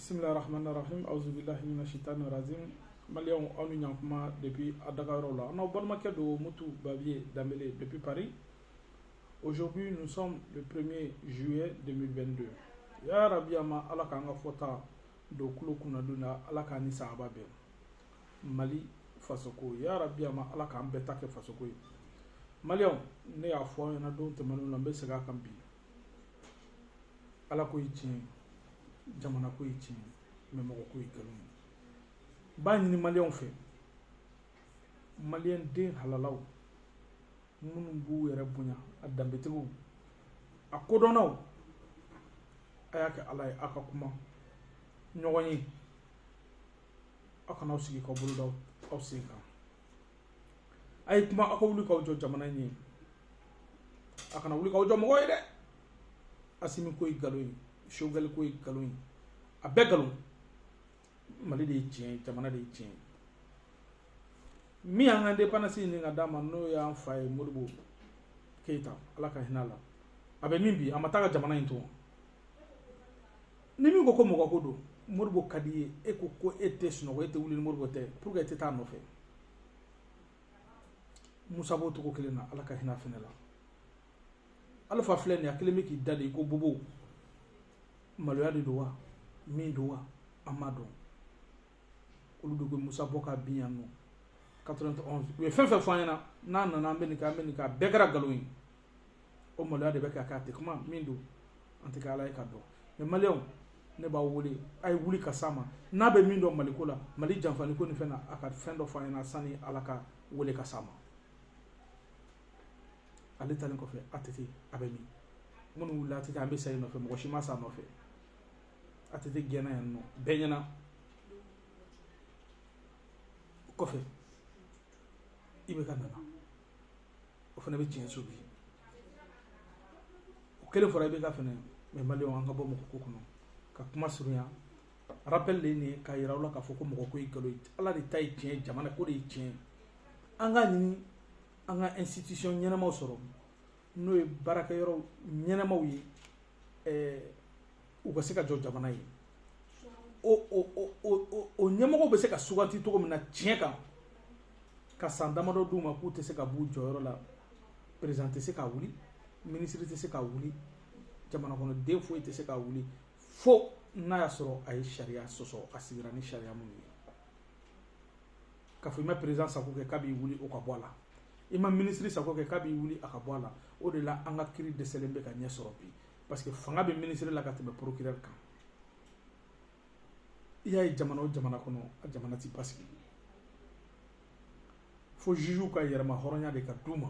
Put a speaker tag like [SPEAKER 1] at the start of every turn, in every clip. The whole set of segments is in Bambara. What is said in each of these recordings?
[SPEAKER 1] bisimila rahman rahim auzubillahi mina shitani razim maliyɛnw aw ni ɲankuma depuis a daga yɔrɔw la n'aw balimakɛ don mutu babiye danbele depuis paris aujourd'hui nous sommes le 1er juillet 2022 ya rabi a ma ala k'an ka fɔta don kulo kunnadon na ala k'an ni sahaba bɛn mali fasoko ya rabi a ma ala k'an bɛɛ ta kɛ fasoko ye maliyɛnw ne y'a fɔ aw ɲɛna don tɛmɛnenw na n bɛ segin a kan bi ala ko ye tiɲɛ jamana ko ye tiɲɛ mɛ mɔgɔ ko ye nkalon ye n b'a ɲini maliyɛnw fɛ maliyɛn den halalaw minnu b'u yɛrɛ bonya a danbetigiw a kodɔnnaw a y'a kɛ ala ye aw ka kuma ɲɔgɔn ye aw kana aw sigi k'aw bolo da aw sen kan a ye kuma aw ka wuli k'aw jɔ jamana in ye a kana wuli k'aw jɔ mɔgɔ ye dɛ asimi ko ye nkalon ye sogɛli ko ye nkalon ye a bɛɛ nkalon mali de ye tiɲɛ ye jamana de ye tiɲɛ ye min y'an ka indépendance ɲini ka d'an ma n'o y'an fa ye modibo keyita ala ka hinɛ a la a bɛ min bi a ma taa ka jamana in to ni min ko ko mɔgɔ ko don modibo ka di ye e ko ko e tɛ sunɔgɔ e tɛ wuli ni modibo tɛ pourquoi e tɛ taa nɔfɛ musa b'o cogo kelen na ala ka hinɛ fana la alifa filɛ nin ye a kelen bɛ k'i da de i ko bobo maloya de don wa min don wa an m'a dɔn olu de ko musa bɔ k'a bin yan nɔ 91 u ye fɛn fɛn fɔ an ɲɛna n'a nana an bɛ nin kɛ an bɛ nin kɛ a bɛɛ kɛra nkalon ye o maloya de bɛ k'a k'a tɛ kuma min don an tɛ ala ye ka dɔn mɛ maliyɛnw ne b'aw wele a ye wuli k'a sama n'a bɛ min dɔn maliko la mali janfali ko nin fɛn a ka fɛn dɔ f'an ɲɛna sani ala k'a wele k'a sama ale taalen kɔfɛ att a bɛ min minnu wulila att an bɛ sa i nɔfɛ mɔgɔ si ma sa a nɔfɛ att gɛnna yan nɔ bɛɛ ɲɛna kɔfɛ ibk nana o fana bɛ tiɲɛso bi o kelen fɔra ibk fana ma maliyɛnw an ka bɔ mɔgɔ ko kɔnɔ ka kuma surunya rappel de ye nin ye k'a yira aw la k'a fɔ ko mɔgɔ ko ye nkalon ye ala de ta ye tiɲɛ jamana ko de ye tiɲɛ an k'a ɲini an ka institution ɲɛnamaw sɔrɔ n'o ye baarakɛyɔrɔ ɲɛnamaw ye ɛɛ u ka se ka jɔ jamana ye o ɲɛmɔgɔw bɛ se ka suganti cogo min na tiɲɛ kan ka san damadɔ d'u ma k'u tɛ se ka b'u jɔyɔrɔ la perezan tɛ se ka wuli minisiri tɛ se ka wuli jamanakɔnɔden foyi tɛ se ka wuli fo n'a y'a sɔrɔ a ye sariya sɔsɔ a sigira ni sariya minnu ye k'a fɔ i ma perezan sago kɛ k'a b'i wuli o ka bɔ a la i ma minisiri sago kɛ k'a b'i wuli a ka bɔ a la o de la an ka kiiri dɛsɛlen bɛ ka ɲɛ sɔrɔ bi parce que fanga bɛ minisiri la ka tɛmɛ porokirɛri kan i y'a ye jamana o jamana kɔnɔ a jamana ti basigi fo jugew ka yɛrɛma hɔrɔnya de ka d'u ma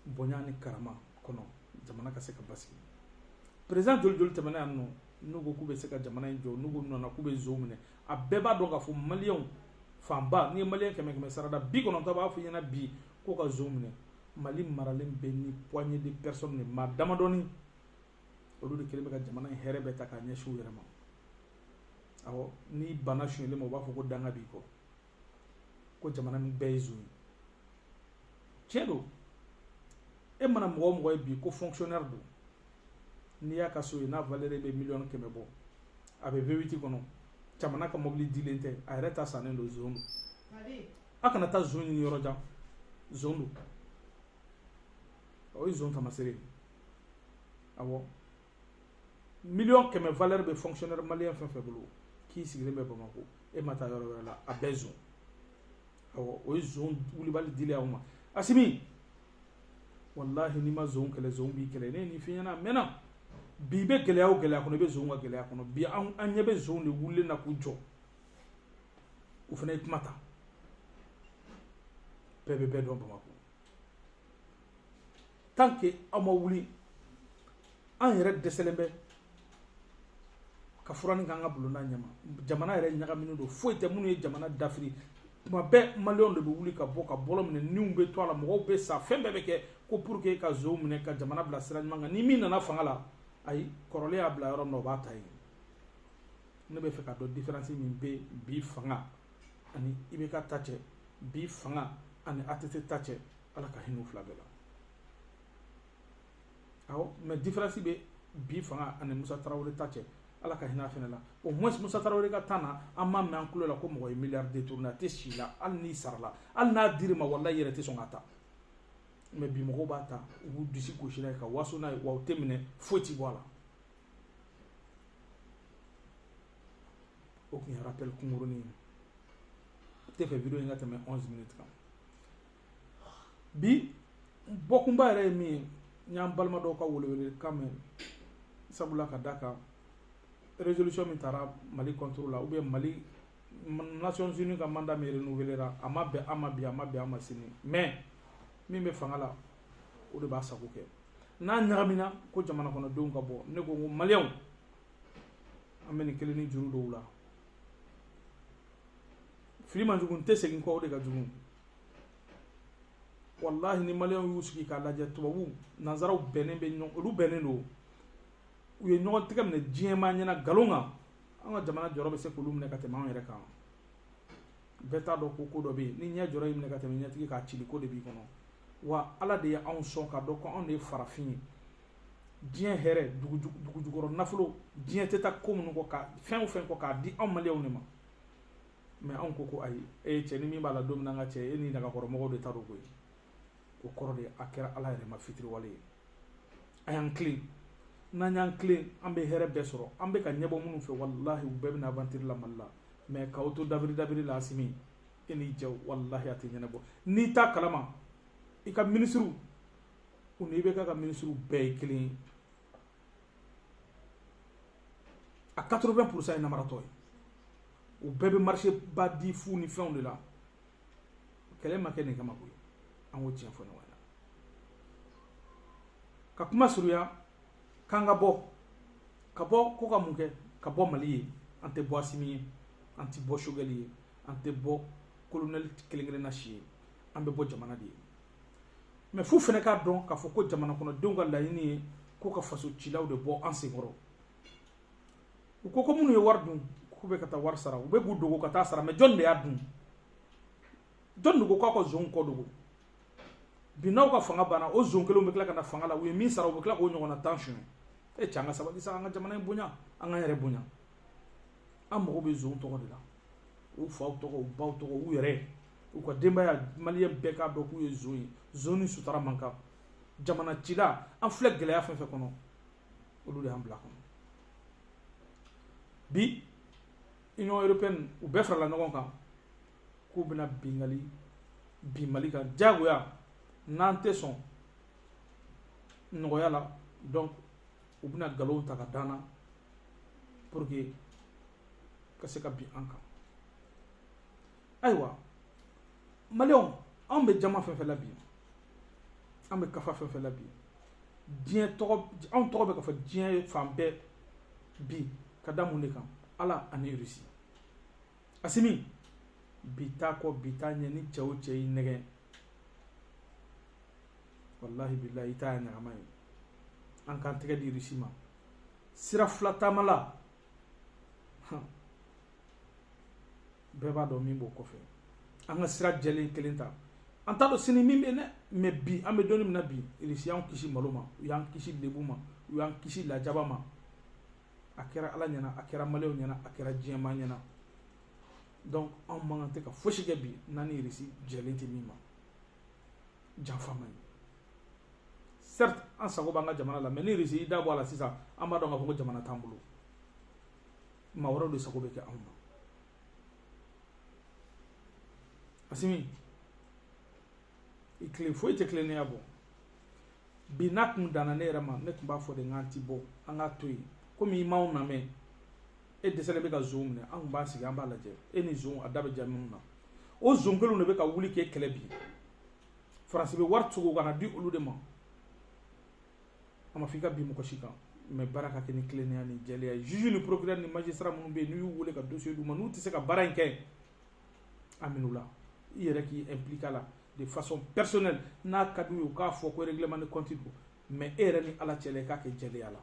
[SPEAKER 1] bonya ni karama kɔnɔ jamana ka se ka basigi perezan joli joli tɛmɛna yan n'olu ko k'u bɛ se ka jamana in jɔ n'u ko nana k'u bɛ zon minɛ a bɛɛ b'a dɔn k'a fɔ maliyɛnw fanba n'i ye maliyɛn kɛmɛ sarada bi kɔnɔntɔn b'a fɔ i ɲɛna bi ko ka zon minɛ mali maralen bɛ ni poignée de personnes de maa damadɔni olu de kelen bɛ ka jamana in hɛrɛ bɛɛ ta k'a ɲɛsin u yɛrɛ ma awɔ n'i banna sonyɛli ma u b'a fɔ ko danga b'i kɔ ko jamana min bɛɛ ye zon ye tiɲɛ don e mana mɔgɔ o mɔgɔ ye bi ko fonctionnaire don n'i y'a ka so ye n'a valeur bɛ miliyɔn kɛmɛ bɔ a bɛ V8 kɔnɔ jamana ka mɔbili dilen tɛ a yɛrɛ ta sannen don zon don a kana taa zon ɲini yɔrɔ jan zon don o ye zon tamasere ye awɔ miliyɔn kɛmɛ valɛri bɛ fonkisiyɔnɛri maliyɛn fɛn fɛn bolo k'i sigilen bɛ bamakɔ e ma taa yɔrɔ wɛrɛ la a bɛɛ zon awɔ o ye zon wulibali dili aw ma asimi walahi n'i ma zon kɛlɛ zon b'i kɛlɛ ne ye nin f'i ɲɛna a mɛnna bi i bɛ gɛlɛya o gɛlɛya kɔnɔ i bɛ zon ka gɛlɛya kɔnɔ bi an ɲɛ bɛ zon de wulilen na k'u jɔ u fana ye kuma ta bɛɛ bɛ bɛɛ dɔn bamakɔ tant que aw ma wuli an yɛrɛ dɛsɛlen bɛ ka furanni k'an ka bulonda ɲɛ ma jamana yɛrɛ ɲagaminen don foyi tɛ minnu ye jamana dafiri tuma bɛɛ maliyɛnw de bɛ wuli ka bɔ ka bɔlɔn minɛ niw bɛ to a la mɔgɔw bɛ sa fɛn bɛɛ bɛ kɛ ko pour que ka zonw minɛ ka jamana bila sira ɲuman kan ni min nana fanga la ayi kɔrɔlen y'a bila yɔrɔ min na o b'a ta yen ne b'a fɛ k'a dɔn diferansi min bɛ bi fanga ani IBK ta cɛ bi fanga ani ATT ta cɛ ala ka hinɛ u fila bɛɛ la awɔ mɛ diferansi bɛ bi fanga ani musa tarawele ta cɛ ala ka hinɛ a fana la au moins musa tarawele ka tan na an ma mɛn an tulo la ko mɔgɔ ye miliyari détourné a tɛ si la hali n'i sarala hali n'a dir'i ma walayi i yɛrɛ tɛ sɔn k'a ta mɛ bi mɔgɔw b'a ta u b'u disi gosi n'a ye ka waso n'a ye wa u tɛ minɛ foyi ti bɔ a la o tun ye rappel kunkurunin ye n t'a fɛ vidéo in ka tɛmɛ 11 minutes kan bi bɔkunba yɛrɛ ye min ye n y'an balima dɔw ka welewelekan mɛn sabula ka d'a kan résolution min tara mali contre la ou bien mali nations unies ka mandat min renouvelera a ma bɛn an ma bi a ma bɛn an ma sini mais min bɛ fanga la o de b'a sago kɛ n'a ɲagamina ko jamana kɔnɔdenw ka bɔ ne ko ko maliyɛnw an bɛ nin kelen ni juru dɔw la fili man jugu n tɛ segin kɔ o de ka jugu walahi ni maliyɛnw y'u sigi k'a lajɛ tubabuw nanzaraw bɛnnen bɛ ɲɔgɔn olu bɛnnen don u ye ɲɔgɔn tɛgɛ minɛ diɲɛmaa ɲɛna nkalon kan an ka jamana jɔrɔ bɛ se k'olu minɛ ka tɛmɛ anw yɛrɛ kan bɛɛ t'a dɔn ko ko dɔ bɛ yen ni ɲɛ jɔrɔ y'i minɛ ka tɛmɛ ɲɛtigi kan cili ko de b'i kɔnɔ wa ala de ye anw sɔn k'a dɔn ko anw de ye farafin ye diɲɛ hɛrɛ dugujukɔrɔ nafolo diɲɛ tɛ taa ko minnu kɔ ka fɛn o fɛn kɔ k'a di anw maliyɛnw de ma mɛ anw ko ko ayi e ye cɛ ni min b'a la don min na ka cɛ e ni nagakɔrɔmɔgɔw de ta don koyi o kɔrɔ de a kɛra ala yɛrɛ ma fitiriwale ye a y'an tilen n'an y'an tilen an bɛ hɛrɛ bɛɛ sɔrɔ an bɛ ka ɲɛbɔ minnu fɛ walahi u bɛɛ bɛ na avantiri la mali la mɛ k'aw to dabiri dabiri la asimi e n'i jɛw walahi a tɛ ɲɛnabɔ n'i t'a kalama i ka minisiriw u ni IBK ka minisiriw bɛɛ ye kelen ye a 80 pourcent ye namaratɔ ye u bɛɛ bɛ marché ba di fu ni fɛnw de la kɛlɛ ma kɛ nin kama koyi an ka tiɲɛ fɔ ɲɔgɔn ɲɛna ka kuma surunya k'an ka bɔ ka bɔ ko ka mun kɛ ka bɔ mali ye an tɛ bɔ asimi ye an tɛ bɔ sogɛli ye an tɛ bɔ kolonɛli kelen-kelenna si ye an bɛ bɔ jamana de ye mɛ f'u fana k'a dɔn k'a fɔ ko jamana kɔnɔdenw ka laɲini ye ko ka faso cilaw de bɔ an senkɔrɔ u ko ko minnu ye wari dun k'u bɛ ka taa wari sara u bɛ k'u dogo ka taa sara mɛ jɔnni de y'a dun jɔnni de ko k'a ka zonw ko dogo bi n'aw ka fanga banna o zon kelenw bɛ tila ka na fanga la u ye min sara u bɛ tila k'o ɲɔgɔnna tan suɲɛ e cɛ an ka sabali sa an ka jamana in bonya an k'an yɛrɛ bonya an mago bɛ zon tɔgɔ de la u faw tɔgɔ u baw tɔgɔ u yɛrɛ u ka denbaya maliyɛn bɛɛ k'a dɔn k'u ye zon ye zon ni sutara man kan jamana cila an filɛ gɛlɛya fɛn fɛn kɔnɔ olu de y'an bil'a kɔnɔ bi union européenne u bɛɛ farala ɲɔgɔn kan k'u bɛna binkanni bin mali kan diyagoya n'an tɛ sɔn nɔgɔya la donc u bɛna nkalonw ta k'a d'an na pour que ka se ka bin an kan ayiwa maliyɛnw anw bɛ jama fɛn fɛn la bi an bɛ kafa fɛn fɛn la bi diɲɛ tɔgɔ anw tɔgɔ bɛ ka fɔ diɲɛ fan bɛɛ bi ka da mun de kan ala ani irisi asimi bi t'a kɔ bi t'a ɲɛ ni cɛ o cɛ y'i nɛgɛn walahi bilahi i ta ye ɲagama ye an k'an tɛgɛ di irisi ma sira fila taama la bɛɛ b'a dɔn min b'o kɔfɛ an ka sira jɛlen kelen ta an t'a dɔn sini min bɛ dɛ mais bi an bɛ don in min na bi irisi y'an kisi malo ma u y'an kisi lebu ma u y'an kisi lajaba ma a kɛra ala ɲɛna a kɛra maliyɛnw ɲɛna a kɛra diɲɛmaa ɲɛna donc anw man kan tɛ ka fosi kɛ bi n'an ni irisi jɛlen tɛ min ma janfa man ɲi certes an sago b'an ka jamana la mais ni irisi y'i da bɔ a la sisan an b'a dɔn k'a fɔ ko jamana t'an bolo maa wɛrɛw de sago bɛ kɛ anw na asimi i tilen foyi tɛ tilennenya bɔ bi n'a tun danna ne yɛrɛ ma ne tun b'a fɔ de k'an t'i bɔ an k'a to yen komi i m'anw lamɛn e dɛsɛlen bɛ ka zonw minɛ an tun b'a sigi an b'a lajɛ e ni zonw a da bɛ ja minnu na o zon kelenw de bɛ ka wuli k'e kɛlɛ bi faransi bɛ wari cogo ka n'a di olu de ma a ma fɔ i ka bin mɔgɔ si kan mais baara ka kɛ ni tilennenya ni jɛlenya ye juge ni procureur ni magistrat minnu bɛ yen n'u y'u wele ka dossier d'u ma n'u tɛ se ka baara in kɛ a min'u la i yɛrɛ k'i impliquer a la de façon personnelle n'a ka d'u ye u k'a fɔ ko règlement de compte don mais e yɛrɛ ni ala cɛla i k'a kɛ jɛlenya la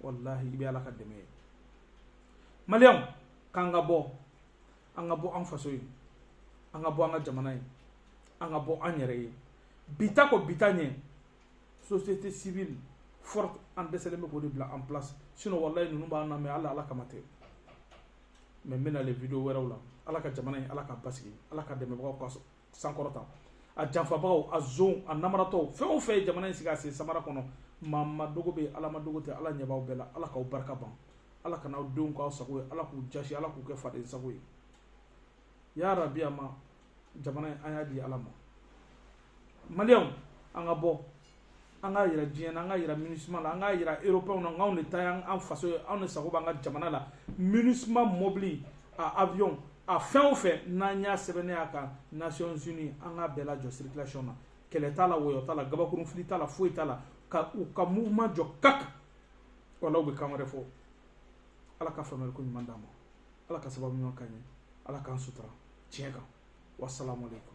[SPEAKER 1] walahi i bɛ ala ka dɛmɛ ye maliyɛnw k'an ka bɔ an ka bɔ an faso ye an ka bɔ an ka jamana ye an ka bɔ an yɛrɛ ye bi ta kɔ bi ta ɲɛ société civile forte an dɛsɛlen bɛ k'o de bila en place sinon walayi ninnu b'an lamɛn hali ala kama tɛ mais n bɛna les vidéos wɛrɛw la ala ka jamana in ala k'a basigi ala k'a dɛmɛbagaw ka sankɔrɔta a janfabagaw a zon a namaratɔw fɛn o fɛn ye jamana in sigi a sen samara kɔnɔ maa ma dogo bɛ ala ma dogo tɛ ala ɲɛ b'aw bɛɛ la ala k'aw barika ban ala kana aw denw k'aw sago ye ala k'u jasi ala k'u kɛ faden sago ye ya rabi a ma jamana in an y'a di ala ma maliyɛnw an ka bɔ an k'a yira diɲɛ na an k'a yira minusma la an k'a yira européenw na anw de ta y'an faso ye anw de sago b'an ka jamana la minusma mɔbili a avion a fɛn o fɛn n'an y'a sɛbɛnnen y'a kan nations unies an k'a bɛɛ lajɔ circulation na kɛlɛ t'a la wɔyɔ t'a la gabakurun fili t'a la foyi t'a la ka u ka mouvement jɔ kak wala u bɛ kan wɛrɛ fɔ ala ka faamuyali ko ɲuman d'an ma ala ka sababu ɲuman k'an ye ala k'an sutura tiɲɛ kan wasalamu aleykum